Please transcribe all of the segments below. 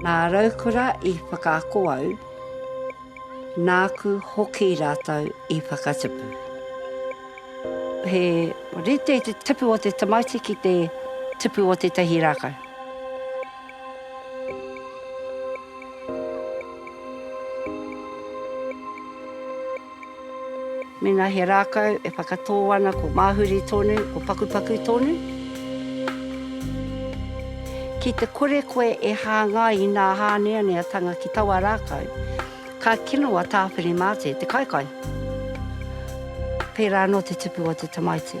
Nā Raukura i whakaako au, nāku hoki rātou i whakatipu. He rite te tipu o te tamaiti ki te tipu o tētahi rākau. Mēnā he rākau e whakatō ana ko māhuri tonu, ko pakupaku tonu. Ki te kore koe e hāngai i nā hāneaneatanga ki taua rākau, ka kino a Tāwhiri Māte te kaikai. Pērā anō te tupu o te tamaiti.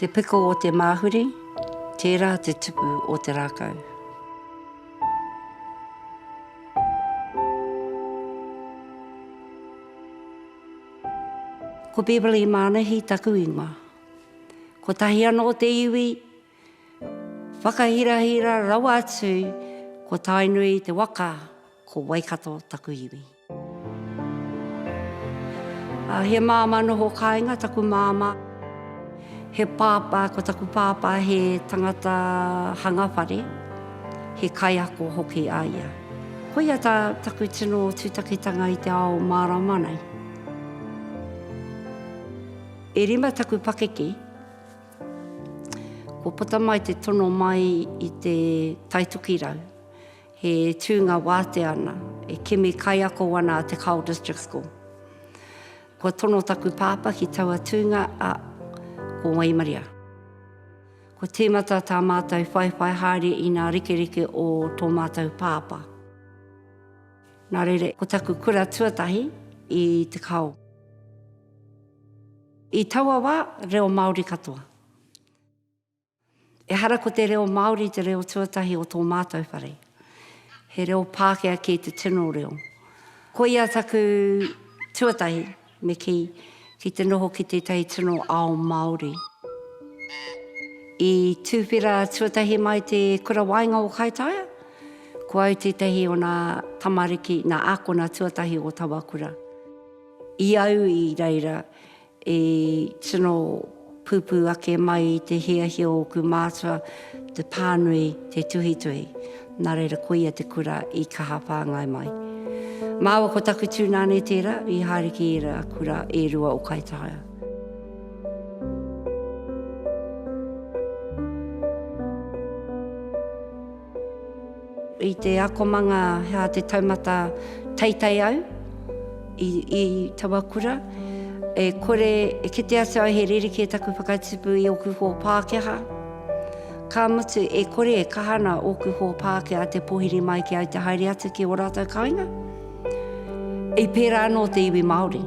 Te piko o te māhuri, tērā te tupu o te rākau. Ko Beverley Mānahi taku ingoa. Kotahi anō te iwi Whakahirahira rawa atu ko Tainui te waka ko Waikato taku iwi. A he māmā noho kāinga taku māmā. He pāpā ko taku pāpā he tangata hanga whare, he kaiako hoki a ia. Koia tā taku tino tūtakitanga i te ao mārama nei. E rima taku pakeke. Kua puta mai te tono mai i te Taitukirau, he tūnga wātea ana, e kimi kaiako ana a Te Kao District School. Kua tono taku pāpā ki taua tūnga a Ko Waimaria. Kua tīmata tā mātou whaiwhai haere i ngā rekereke o tō mātou pāpā. Nā reira, ko taku kura tuatahi i Te Kao. I taua wā, reo Māori katoa. Ehara ko te reo Māori te reo tuatahi o tō mātou whare. He reo Pākehā kē te tino reo. Koia taku tuatahi me kī, ki te noho ki tētahi tino ao Māori. I tūwhera tuatahi mai te Kura Waenga o Kaitaia, ko au tētahi o nā tamariki, nā ākona tuatahi o taua kura. I au i reira i tino pupū ake mai i te hiahia o ōku mātua te pānui te tuhituhi, nā reira koia te kura i kaha whāngai mai. Māua ko taku tūnāne tērā i haere ki ērā kura e rua o Kaitaia. I te akomanga hea te taumata teitei au i i taua kura e kore e kite atu au he rerekē taku whakatipu i oku hō Pākehā ka mutu e kore e kaha ana oku hō Pākehā te pohiri mai ki au te haere atu ki o ratou kainga i pērā anō te iwi Māori.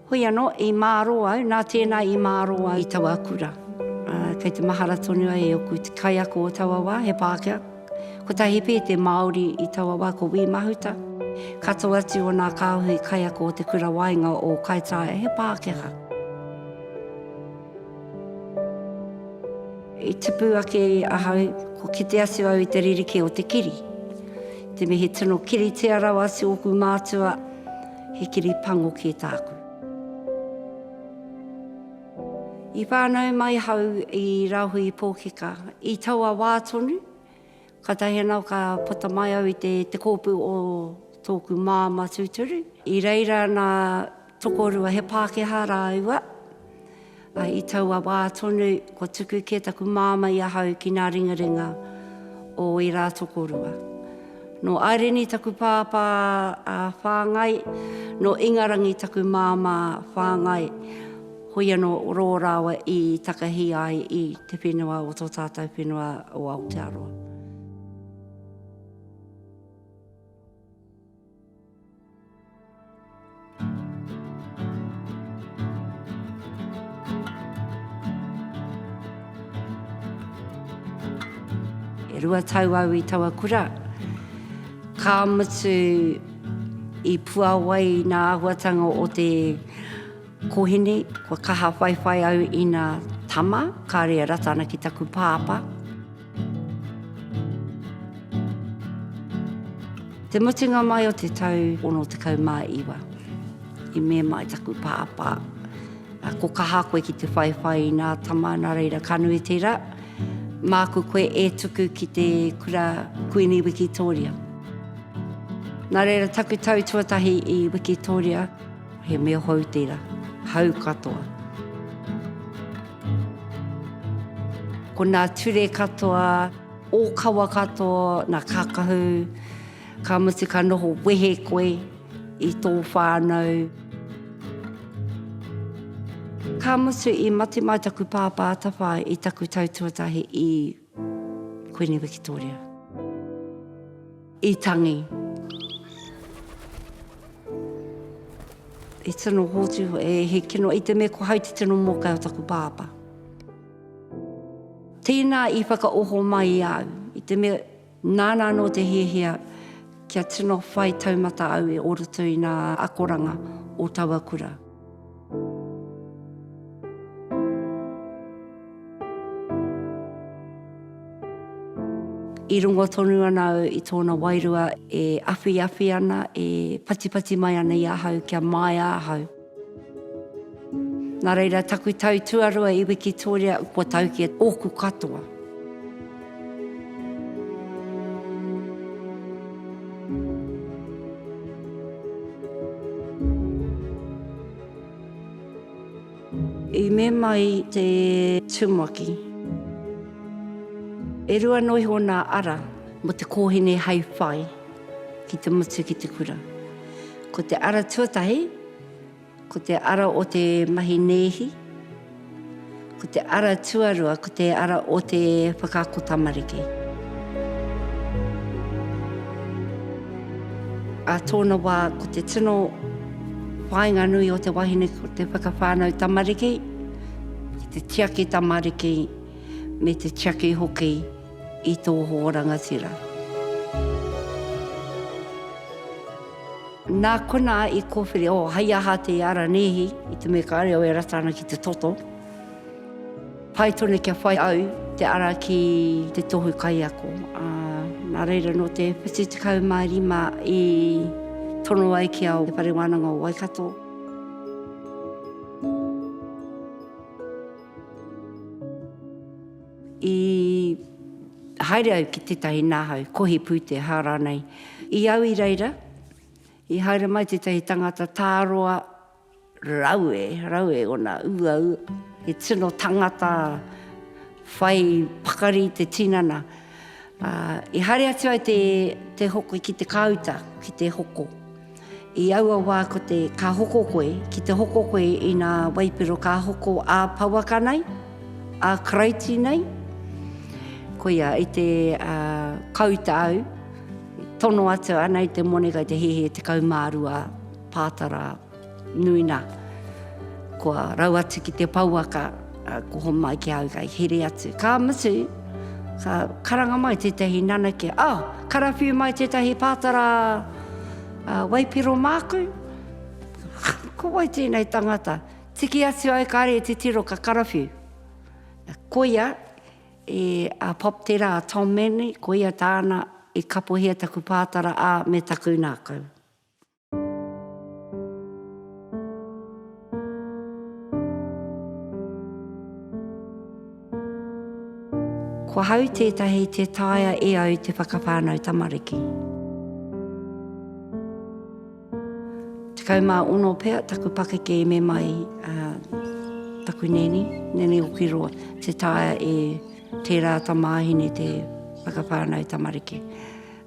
Hoi anō, i mārō au, nā tēnā i mārō au i taua kura. Kei te mahara tonu ai e oku kaiako o taua wā, he Pākehā. Kotahi pea te Māori i taua wā ko Wī Mahuta. Katoa atu o nā kāhui kaiako o te kura waenga o Kaitaia he Pākehā. I tipu ake ahau, kua kite atu au i te ririki o te kiri. Te mihi tino kiritia rawa atu oku mātua, he kiri pango kē tāku. I whānau mai hau i Rahui Pōkeka, i taua wā tonu, Kātahi anō ka puta mai au i te te kōpū o tōku māmā tūturu. I reira nā tokorua he Pākehā rāua, ā, i taua wā tonu kua tuku kē taku māmā i ahau ki ngā ringaringa o ērā tokorua. Nō Aireni taku pāpā whāngai, nō Ingarangi taku māmā whāngai. Hoi anō rō rāua i takahi ai i te whenua o tō tātou whenua o Aotearoa. E rua tau au i taua kura, ka mutu i puāwai nā āhuatanga o te. Kohene, Kua kaha whaiwhai au i na tama, kare e rata ana ki taku pāpa. Te mutunga mai o te tau 69, i mema ai taku pāpa, Ko kaha koe ki te whaiwhai i na tama, na reira ka nui tera, māku koe e tuku ki te kura Kuini Wikitoria. Na reira taku tau tuatahi i Wikitoria. He mea hou tera, hau katoa. Ko nā ture katoa, ōkawa katoa, nā kākahu, ka mutu ka noho wehe koe i tō whānau. Ka mutu i mate mai taku pāpā atawhai i taku tau tuatahi i. Kuini Wikitoria. I tangi. I tino hōtu, e he kino, i te me ko hau te tino mōkai o taku pāpa. Tēnā i whakaoho mai au, i te me nāna anō te hiahia kia tino whai taumata au e o roto i nā akoranga o taua kura. I rongo tonu ana au i tōna wairua e awhiawhi ana, e patipati mai ana i ahau kia māia ahau. Nā reira, taku tau tuarua i wikitoria, kua tau ki a ōku katoa. I me mai te tumaki. E rua noa iho nā ara mō te kōhine hai whai ki te mutu ki te kura. Ko te ara tuatahi, Ko te ara o te mahi nēhi, ko te ara tuarua, ko te ara o te whakaako tamariki. Ā tōna wā, ko te tino whāinga nui o te wahine ko te whakawhānau tamariki, ki te tiaki tamariki, me te tiaki hoki. I tō hō rangatira. Nā konā i kōwhiri, oh, hei aha te ara nēhi i te mea kāre au e rata ana ki te toto. Pai tonu kia whai au te ara ki te tohu kaiako. Uh, nā reira no te 75 i tono ai ki au te whare wānanga o Waikato. I haere au ki tētahi nahau, kohi pūteha rānei. I au i reira, i haere mai tētahi tangata tāroa raue, raue ona uau, he tino tangata whai pakari i te tinana. I haere atu au te hoko ki te kāuta, ki te hoko. I aua wā ko te ka hoko koe, ki te hoko koe i nā waipiro ka hoko ā pouaka nei, ā Karaiti nei, koia i te kauta au, tono atu ana i te moni kei te hihi 12 pātara nui nā, kua rau atu ki te pouaka. Ka koho mai ki a au, ka hiri atu. Ka mutu, ka karanga mai tētahi nanake, oh, karawhiu mai tētahi pātara uh, waipiro māku. Ko wai tēnei tangata? Tiki atu au ka are te tiro ka karawhiu. Koia, e a Pop Tera, a Tom Manley, koia tāna e kapohia taku pātara a me taku nākau. Kua hau tētahi te taea e au te whakawhānau tamariki. Tekau mā ono pea taku pakeke e me mai uh, taku neni, neni o Kiroa, te taea e tērā tamāhine te whakawhānau tamariki.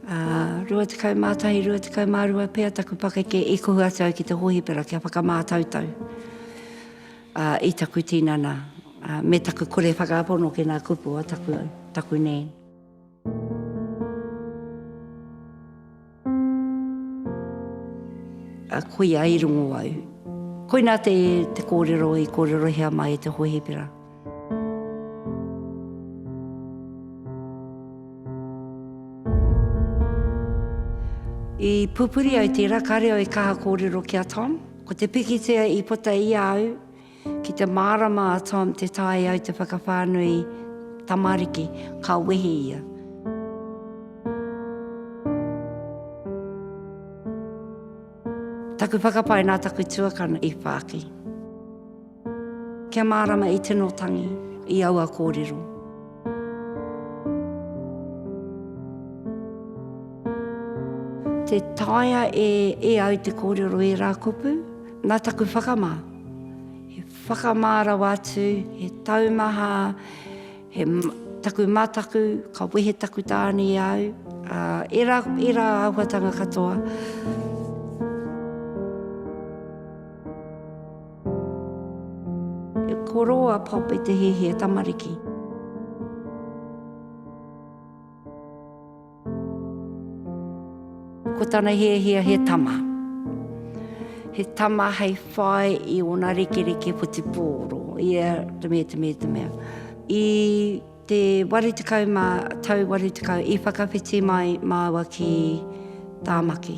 21, 22 pea taku pakeke i kohu atu au ki te hōhipera kia whakamātautau i taku tinana me taku kore whakapono ki ngā kupu o taku nēni. Koia i rongo au. Koinā te kōrero i kōrerohia mai e te hōhipera. I pupuri au tērā, kāre au e kaha kōrero ki a Tom. Ko te pikitia i puta i a au, ki te mārama a Tom te taea au te whakawhānui tamariki, ka wehi ia. Taku whakapae nā taku tuakana i whāki. Kia mārama i tino tangi, i aua kōrero. Te taea e, e au te kōrero e rā kupu, nā taku whakamā. He whakamā rawa atu, he taumaha, he taku mataku, ka wehe taku tāne i au, uh, e rā, e rā ahuatanga katoa. E koro a Pop i te hēhē tamariki. Ko tana hēhia he tama. He tama hei whai i ona rekereke whutupōro, i a te mea, te mea, te mea. I te waru tekau ma, tau waru tekau, i whakawhiti mai māua ki Tāmaki.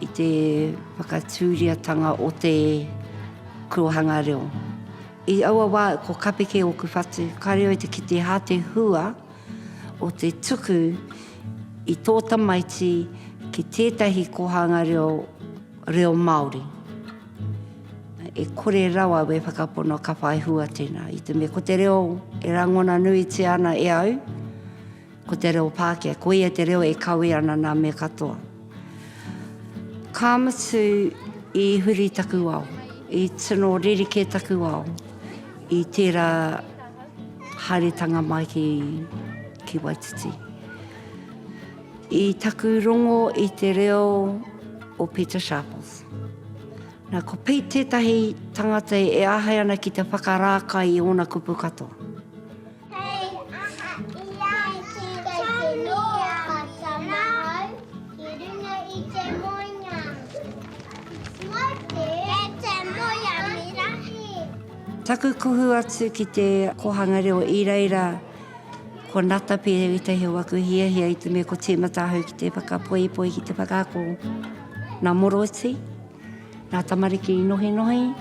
I te whakatūriatanga o te korohanga reo. I aua wā, ko Kapeke ōku whatu, ka reo i te kite hā te hua o te tuku i tō tamaiti ki tētahi kōhanga reo, reo Māori. E kore rawa we whakapono ka whai hua tēnā. I te mea ko te reo e rangona nuitia ana e au, Ko te reo Pākehā, ko ia te reo e kawe ana nā me katoa. Ka mutu i huri taku ao, i tino rerekē taku ao i tērā haeretanga mai ki, ki Waititi. I taku rongo i te reo o Pita Sharples. Nā, ko Pete tētahi tangata e āhei ana ki te whakarākai i ōna kupu katoa. Taku kuhu atu ki te Kohanga Reo i reira ko Natapi etahi o aku hiahia i te mea ko timata ahau ki te whakapoipoi ki te whakaako na Moroti, na tamariki i nohinohi.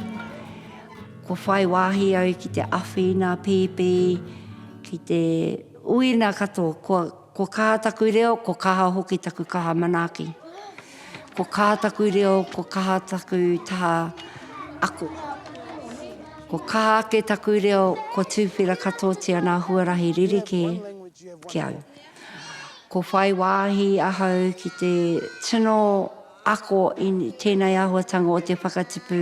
Kua whai wāhi au ki te awhina pīpī, ki te uina katoa. Kua, kua kaha taku reo, kua kaha hoki taku kaha manaaki. Kua kaha taku reo, kua kaha taku taha ako. Kua kaha ake taku reo, kua tūwhera katoatia ngā huarahi rerekē ki au. Kua whai wāhi ahau ki te tino ako i tēnei āhuatanga o te whakatipu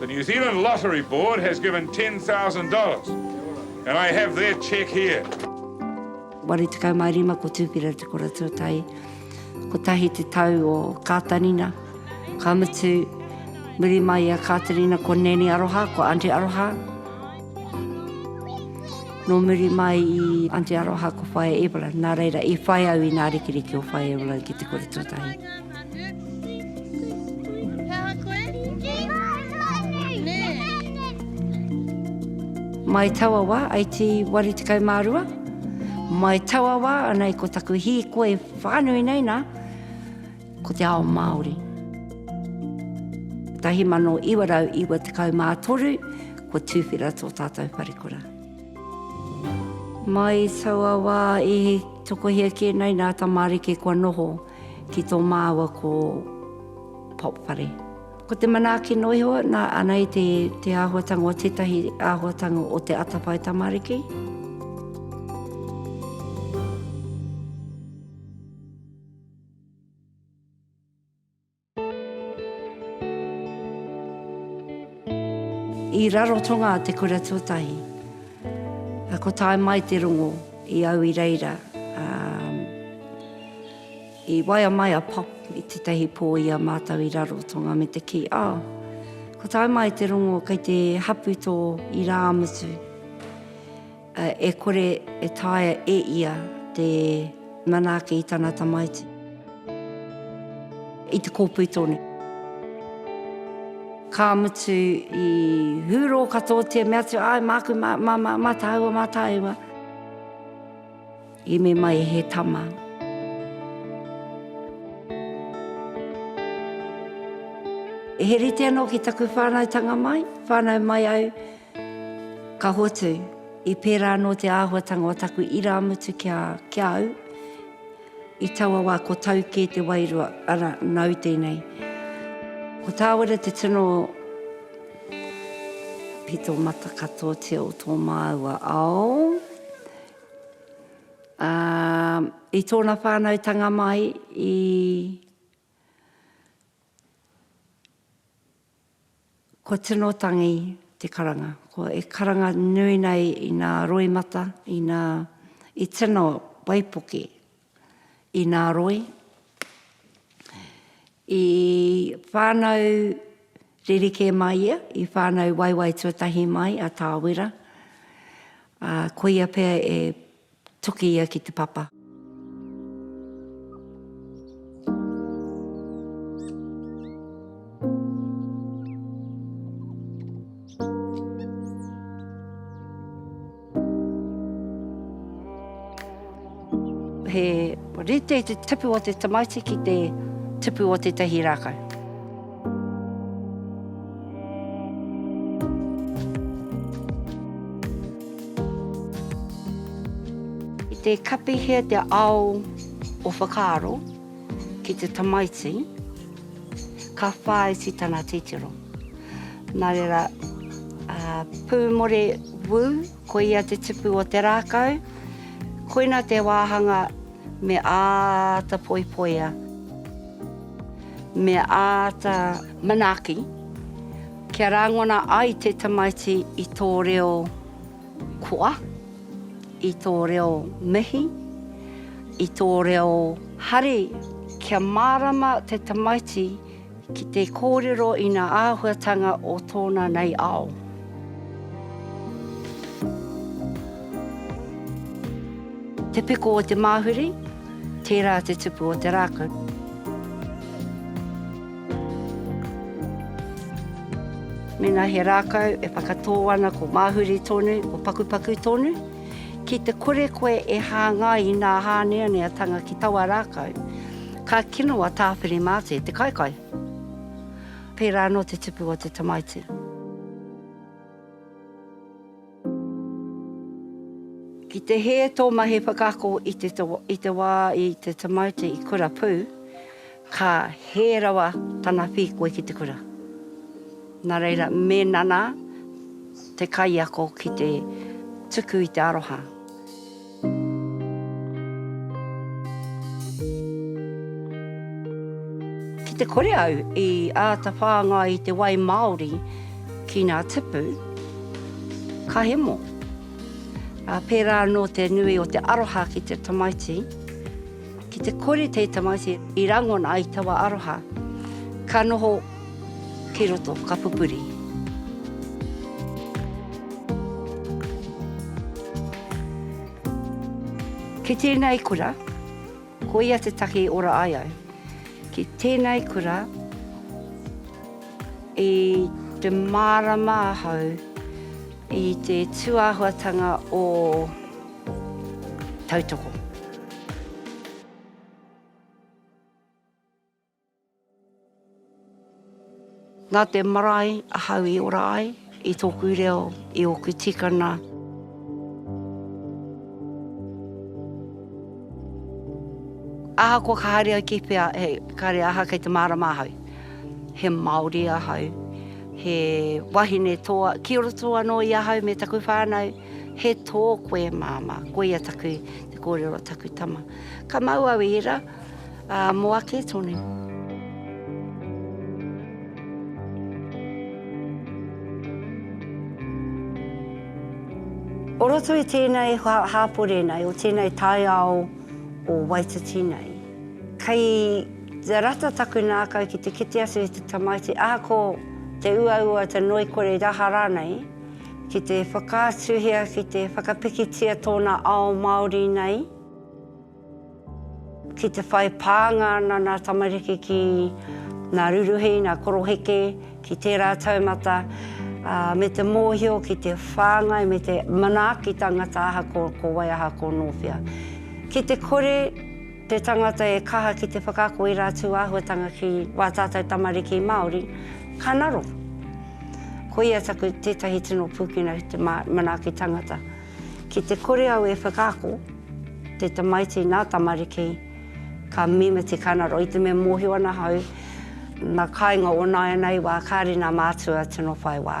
The New Zealand Lottery Board has given ten thousand dollars and I have their cheque here. Waru tekau mā rima ko Tūpira Te Kura Tuatahi, kotahi te tau o Kātarina, ka mutu, muri mai i a Kātarina ko Nēni Aroha, ko Aunty Aroha. Nō muri mai i Aunty Aroha ko Whaea Evelyn, nā reira i whai au i nā rikiriki o Whaea Evelyn ki Te Kura Tuatahi. Mai taua wā, ai tī waru tekau mā rua, mai taua wā, anei ko taku hīkoi whānui nei nā, ko te ao Māori. 1993, kua tūwhera tō tātou wharekura. Mai taua wā i tokohia kē nei nā tamariki kua noho. Ki tō māua ko Pop Whare. Ko te manaaki noa iho, nā, anei te, te āhuatanga o tētahi āhuatanga o te atawhai tamariki. I Rarotonga te kura tuatahi. Ko tae mai te rongo i au i reira, ā, i waia mai a Pop i tētahi pō i a mātou i Rarotonga me te kī, Oh, ko tae mai te rongo kei te hapu tō irāmutu. E kore e taea e ia te manaake i tana tamaiti. I te kōpui tonu. Ka mutu i hūrō katoatia, mea atu, Āe, māku, mā, mā, mā, mā tāua, mā tāua. I me mai he tama. He rite anō ki taku whānautanga mai, whānau mai au. Ka hotu, i pērā anō te āhuatanga o taku irāmutu ki a, ki a au, i taua wā ko tau kē te wairua, arā, nāu tēnei. Ko Tāwera te tino pito matakatoatia o tō māua ao, ā, i tōna whānautanga mai i, Ko Tino Tangi te karanga. Ko e karanga nui nei i nā roimata, i nā, i tino waipuke i nā roi, i whānau rerekē mai ia, i whānau waiwai tuatahi mai a Tāwera, ā, koia pea e. Toki ia ki te papa. He rite te tipu o te tamaiti ki te tipu o tētahi rākau. I te kapihia te ao o whakaaro ki te tamaiti, ka whāiti tana titiro. Nā reira, Pūmore Wu, koia te tupu o te rākau, koina te wāhanga Me āta poipoia. Me āta manaaki kia rangona ai te tamaiti i tō reo koa, i tō reo mihi, i tō reo hari. Kia mārama te tamaiti Ki te kōrero i nā āhuatanga o tōna nei ao. Te piko o te māhuri, tērā te tupu o te rākau. Mēnā he rākau e whakatō ana ko māhuri tonu, ko pakupaku tonu, ki te kore koe e hāngai i nā hāneaneatanga ki taua rākau, Ka kino a Tāwhiri Maate, te kaikai. Pērā anō te tupu o te tamaiti. Ki te hē tō mahi whakaako i te wā i te tamaiti i kura pū, ka hē rawa tana whīkoi ki te kura. Nā reira, mēnā nā te kaiako ki te tuku i te aroha. Ki te kore au i āta whāngai i te wai māori ki ngā tipu, ka hemo. Pērā anō te nui o te aroha ki te tamaiti, ki te kore te tamaiti i rangona i taua aroha, ka noho. Kei roto, ka pupuri. Kei tēnei kura, ko ia te take i ora ai au. Ki tēnei kura, i te mārama ahau i te tūāhuatanga o tautoko. Nā te marae ahau i ora ai, i tōku reo, i ōku tikana. Ahakoa ka haere au ki whea, hei, kāre aha kei te mārama ahau. He Māori ahau, he wahine toa, ki roto anō i ahau me taku whānau, he tō koe māmā, koia taku, te kōrero a taku tama. Ka mau au i ērā. Ā, mō ake tonu. O roto i tēnei hāpori nei, o tēnei taiao o Waititi nei, kei te rata taku nākau ki te kite atu i te tamaiti, ahako te uaua, te ngoikore, te aha rānei, ki te whakaatuhia, ki te whakapikitia tōna ao Māori nei. Ki te whai pānga ana ngā tamariki ki ngā ruruhi, ngā koroheke, ki tērā taumata, ā, me te mōhio ki te whāngai me te manaaki tangata ahakoa ko wai, ahakoa nō whea. Ki te kore te tangata e kaha ki te whakaako i rātou āhuatanga ki wā tātou tamariki Māori, ka ngaro. Koia taku tētahi tino pūkenga ki te manaaki tangata. Ki te kore au e whakaako, te tamaiti nā tamariki, ka mīma te kainaro. I te mea mōhio ana ahau, nā kāinga o nāianei wā, kāre nā mātua tino whai wā.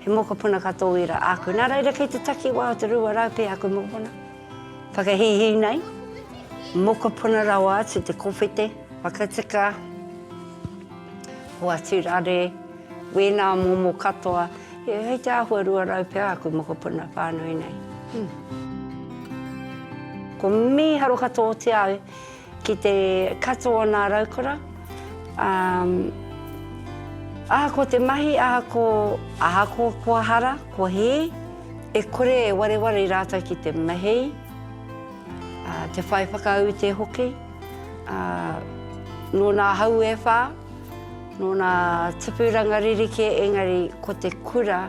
He mokopuna ka tōira āku. Nā reira kei te takiwā o te rua rau pea aku mokopuna whakahīhī nei, mokopuna rawa atu te kowhete, whakatika, hoatu rare, wēnā momo katoa, hei te āhua rua rau pea aku mokopuna whānui nei. Ko mīharo katoa o te au. Ki te katoa o nā raukura, umm, ahako te mahi, ahako, ahako kua hara, kua hī, e kore e wareware i rātou ki te mahei, ā, te whai whakaute hoki, ā, nō nā hau e whā, nō nā tupuranga ririke, engari ko te kura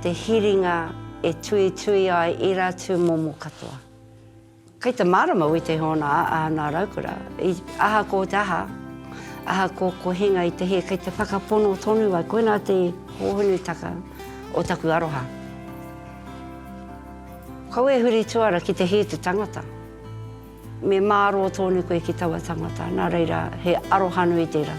te hiringa e tuitui ai ērā tūmomo katoa. Kei te mārama wī te hōna a ana raukura, i ahako te aha, ahako ko hinga i te hē, kei te whakapono tonu ai, koinā te hōhonutaka o taku aroha. Kaua e huri tuara ki te hē te tangata, me mārō tonu koe ki taua tangata, nā reira he arohanui tērā.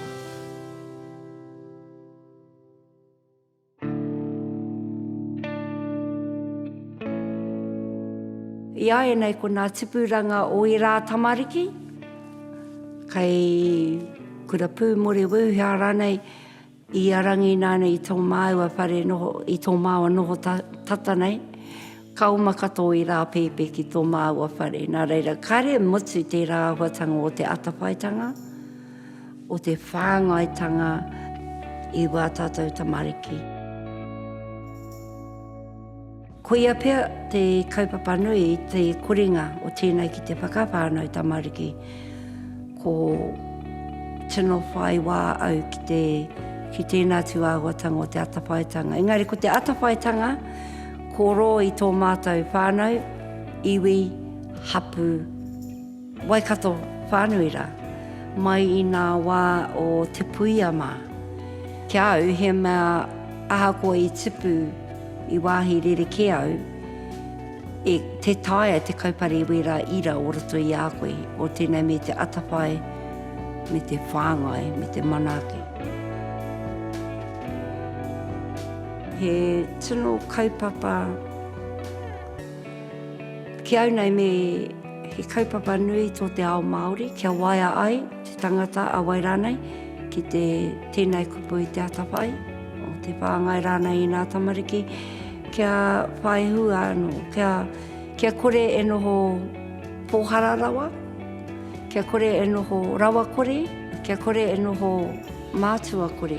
I a e nei ko nā tipuranga o ērā tamariki, kei Kura Pūmore Weuhea rānei, i a Rangi nāna i tō māua whare noho, i tō māua noho tata nei, ka oma katoa i rā pēpi ki tō māua whare. Nā reira, kare mutu tērā āhuatanga o te atawhaitanga. o te whāngaitanga i wā tātou tamariki. Koia pea te kaupapa nui i te koringa o tēnei ki te whakawhānau tamariki. Ko tino whai wā au ki te ki tēnā tū āhuatanga o te atawhaitanga. Engari ko te atawhaitanga, ko rō i tō mātou whānau, iwi, hapu, Waikato whānui rā, mai i ngā wā o Te Puia mā. Ki a au, he mea ahakoa i tipu i wāhi rerekē au, e, tē taea te kaupare i wērā ira o roto i a koe, o tēnei me te atawhai, me te whāngai, me te manaaki. He tino kaupapa ki au nei me. He kaupapa nui tō te ao Māori kia waea ai te tangata a wai rānei ki te tēnei kupu i te atawhai o te whāngai rānei i nā tamariki kia whai hua anō, kia, kia kore e noho pōhara rawa, kia kore e noho rawa kore, kia kore e noho mātua kore.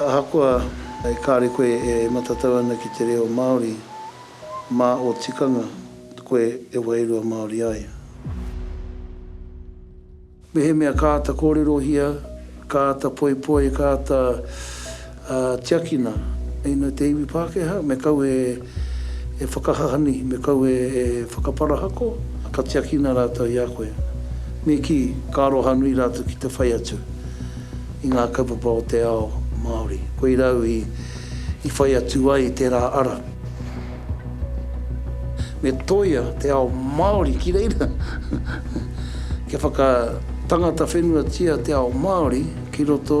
Ahakoa e kāre koe e matatau ana ki te reo Māori, mā ō tikanga koe e wairua Māori ai. Mehemea ka āta kōrerohia, ka āta poipoi, ka āta Ā, tiakina, hei nō te iwi Pākehā, me kau e whakahahani, me kau e whakaparahako, ka tiakina rātou i a koe. Me kī, ka aroha nui rātou ki te whai atu i ngā kaupapa o te ao Māori. Koirā au i whai atu ai i tērā ara. Me tōia te ao Māori ki reira. Kia whakatangata whenuatia te ao Māori ki roto.